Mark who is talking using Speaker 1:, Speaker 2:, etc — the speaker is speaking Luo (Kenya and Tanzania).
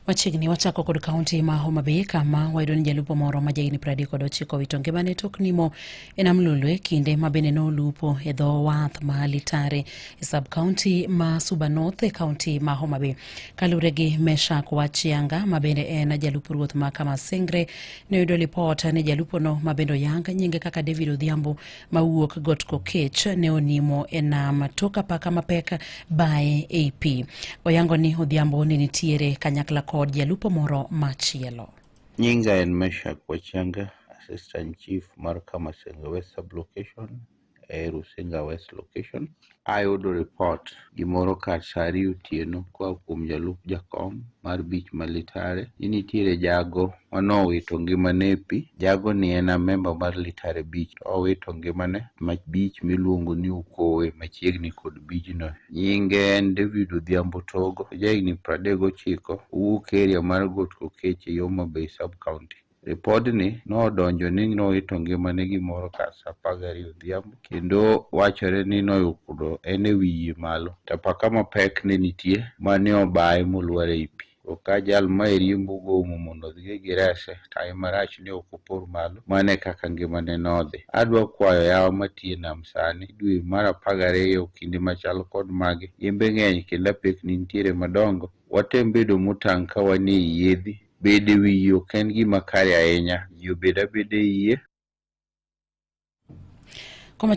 Speaker 1: Machiegni wachako kod kaunti ma Homa Bay kama wayudo ni jalupo moro ma jahigni piero adek kod ochiko owito ngimane tok nimo e nam Lolwe kinde ma bende nolupo e dho wath ma Litare e sub kaunti ma Suba North e kaunti ma Homa Bay. Kaluwore gi Meshak Wachianga ma bende en jalup ruoth ma Kamasingre ne oyudo lipot ni jalupono ma bende oyang nyinge kaka David Odhiambo mawuok got kokech ne onimo e nam tok apaka mapek baye ei pi oyango ni odhiambo ne nitiere kanyakla kod jalupo moro machielo Nyinga en
Speaker 2: Meshak Wachanga, Assistant Chief mar Kamasenga West Sub-Location e Rusinga West Location. Ayudo ripot gimoro kar sa ariyo otieno koa kuom jalup jakom mar bich ma Litare ni nitiere jago ma nowito ngimane e pi. Jagoni en amemba mar Litare Bich to owito ngimane ma bich miluongo ni Okowe machiegni kod bijno. Nyinge en David Odhiambo Togo, ojahigni 39, owuok eria mar Got Kokech e Homa Bay sub-county. Ripodni nodonjo ni nowito ngimane gimoro kar sa apar gariyo odhiambo kendo wachore ni noyudo en e wi yie malo to apaka mapek ne nitie ma ne obaye molwar e i pi. To ka jal ma e riembo gomo mondo odhi e girese, taye marach ne ok opor malo. Mano e kaka ngimane nodhi. Adwa kwayo yawa matie nam sani, dwe mar apar gariyo, kinde machal kod magi, yembe ng'eny kendo apekni nitiere madongo. Watem bedo motang' ka wan e i yiedhi Bedo e wi yie ok en gima kare ahinya. Ji obed abeda e yie.